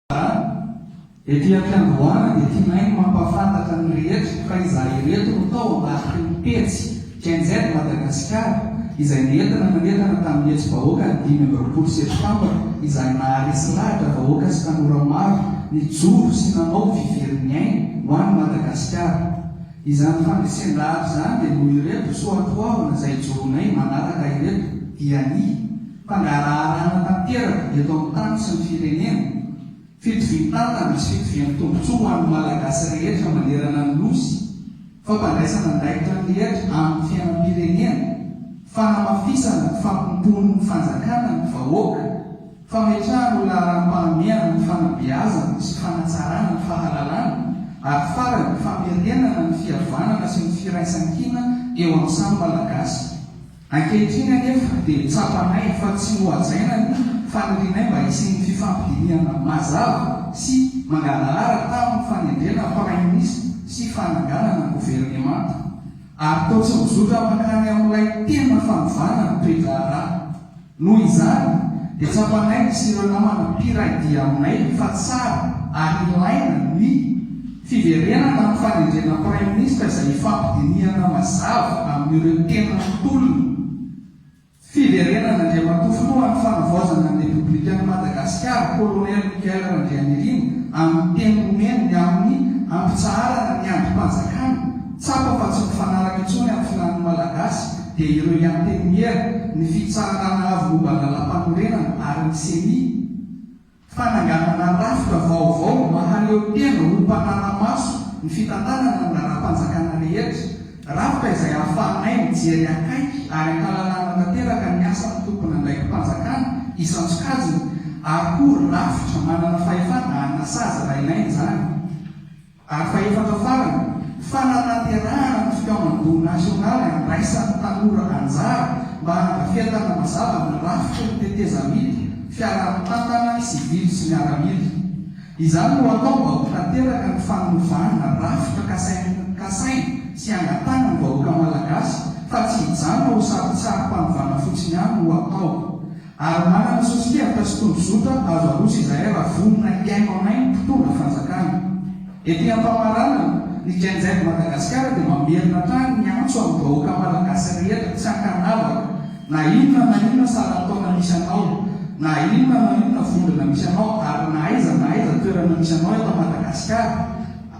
A, Ety am-piandohana dia tianay ny mampahafantatra ny rehetra fa izahay ireto no tao ambadiky ny pejy Gen Z Madagasikara izay nentina nanentana tamin'ny hetsi-bahoaka ny dimy amby roapolo septambra izay naharesy lahatra vahoaka sy tanora maro nijoro sy nanao fiverin'ny ainy ho an'i Madagasikara. Izany fandresen-dahatra izany dia noho ireto soatoavina izay ijoroanay manaraka ireto dia ny. Fangaraharana tanteraka eto amin'ny tany sy ny firenena, fitovian-tantana sy fitovian-tombontsoa ho an'ny Malagasy rehetra manerana ny Nosy, fampandraisana andraikitra ny rehetra amin'ny fiainam-pirenena, fanamafisana ny fampimpoan'ny fanjakana ny vahoaka, fametrahana ho laharam-pahamehana ny fanabeazana sy fanatsarana ny fahalalana, ary farany, famerenana ny fihavanana sy ny firaisan-kina eo amin'ny samy Malagasy. Ankehitriny anefa dia tsapanay fa tsy nohajaina ny fanirianay mba hisian'ny fifampidinihana mazava sy mangarahara tamin'ny fanendrena Praiminisitra sy fananganana governemanta. Ary toa tsy mizotra mankany amin'ilay tena fanovana ny toe-draharaha. Noho izany, dia tsapanay sy ireo namana mpiray dia aminay fa tsara ary ilaina ny. Fiverenana amin'ny fanendrena Praiminisitra izay ifampidinihana mazava amin'ireo tena tolona. Fiverenan'Andriamatoa Filoha amin'ny Fanavaozana ny Repoblikan'i Madagasikara, Kolonely Michael Randrianirina, amin'ny teny nomeny ny amin'ny hampitsaharana ny andrim-panjakana, tsapa fa tsy mifanaraka intsony amin'ny filàn'ny Malagasy dia ireo i Antenimiera, ny Fitsaharana Avo momba ny Lalàmpanorenana ary ny Ceni. Fananganana rafitra vaovao mba haneho tena ho mpanara-maso ny fitantanana ny laharam-panjakana rehetra, rafitra izay ahafahanay mijery akaiky ary an-kalalahana tanteraka ny asan'ny tompon'andraiki-panjakana isan-tsokajiny ary koa rafitra manana fahefana hanasazy raha ilaina izany. Ary fahefatra farany, fanatanterahana ny fikaonan-doha nasionaly handraisan'ny tanora anjara mba handrafietana mazava ny rafitry ny tetezamita fiaraha-mitantana sivily sy miaramila. Izany no atao mba ho tanteraka ny fanovana rafitra kasain'ny kasaina sy angatahana ny vahoaka malagasy fa tsy hijanona ho sarintsarim-panovana fotsiny ihany no atao. Ary manana sosokevitra sy tondrozotra azo aroso izahay raha vonona hihaino anay ny mpitondra fanjakana. Ety am-pamaranana, ny Gen Z Madagasikara dia mamerina hatrany ny antso amin'ny vahoaka malagasy rehetra tsy an-kanavaka, na inona na inona saran-taona misy anao, na inona na inona vondrona misy anao ary na aiza na aiza toerana misy anao eto Madagasikara,